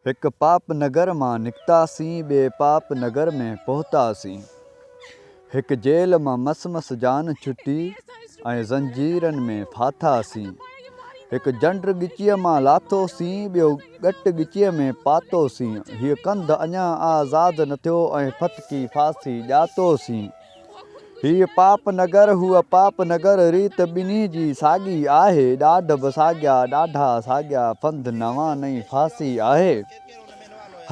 هڪ پاپ نگر مان نڪتاسين ٻئي پاپ نگر ۾ پهتاسين هڪ جيل مان مس مس جان ڇٽي ۽ زنجيرن ۾ ڦاٿاسين هڪ جنڊ ڳچيء مان لاٿوسين ٻيو ڳٽ ڳچيء ۾ پاتوسين هيء ڪنڌ اڃا آزاد نه ٿيو ۽ ڦٿڪي ڦاسي ڄاتوسين هيء پاپ نگر، هوء پاپ نگر، ريت ٻنهي جي ساڳي آهي، ڏاڍ به ساڳيا، ڏاڍا ساڳيا، ڦند نوان نئين ڦاسي آهي.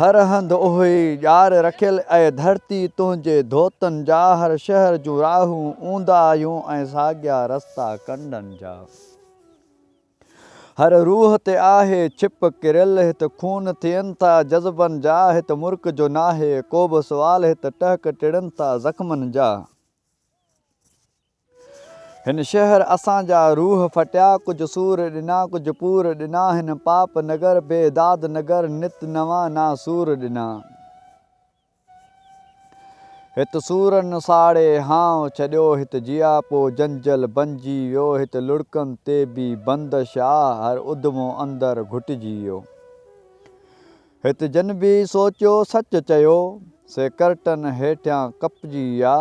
هر هنڌ اهوئي ڄار رکيل، اي ڌرتي تنهنجي ڌوتن جا، هر شهر جون راهون اونداهيون ۽ ساڳيا رستا ڪنڊن جا. هر روح تي آهي ڇپ ڪريل هت خون ٿين ٿا جذبن جا هت مرڪ جو ناهي ڪوبه سوال هت ٽهڪ ٽڙن ٿا زخمن جا هن شهر اسان جا روح ڦٽيا ڪجهه سور ڏنا ڪجهه پور ڏنا هن پاپ نگر بي داد نگر نت نوان ناسور ڏنا. هت سورن ساڙي هانء ڇڏيو، هت جياپو جنجل بنجي ويو، هت لڙڪن تي بي بندش آ، هر اڌمو اندر گهٽجي ويو. هت جن بي سوچيو سچ چيو، سي ڪرٽن هيٺيان ڪپجي ويا،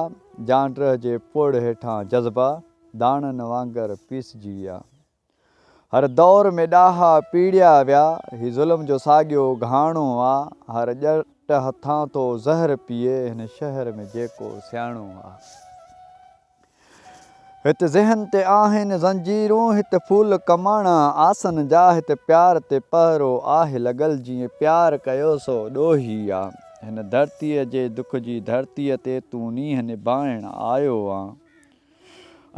جانڊرهه جي پوڙهه هيٺان جذبا، داڻن وانگر پيسجي ويا. هر دور ۾ ڏاها پيڙيا ويا. هي ظلم جو ساڳيو گهاڻو آ. هر ڄٽ هٿان ٿو زهر پيئي. هن شهر ۾ جيڪو سياڻو آ. هت ذهن تي آهن زنجيرون. هت ڦول ڪماڻا آسن جا. هت پيار تي پهرو آهه لڳل. جئين پيار ڪيو سو ڏوهي آ. هن ڌرتيء جي دک جي ڌرتيء تي تون نينهن نڀائڻ آيو آن.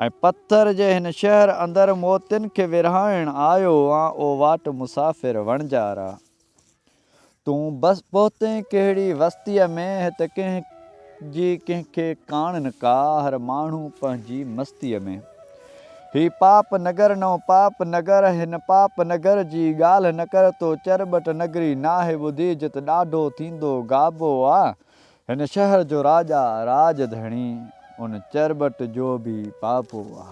۽ پٿر جي هن شهر اندر موتين کي ورهائڻ آيو آن او واٽ مسافر وڻجارا! تون بس پهتين ڪهڙي وستيء ۾، هت ڪنهن جي ڪنهن کي ڪاڻن ڪا، هر ماڻهو پنهنجي مستيء ۾. هي پاپ نگر نئون پاپ نگر، هن پاپ نگر جي ڳالهه نه ڪر، تو چرٻٽ نگري ناهي ٻڌي، جت ڏاڍو ٿيندو گابو آ، هن شهر جو راجا، راڄ ڌڻي، ان چرٻٽ جو به پاپو آ.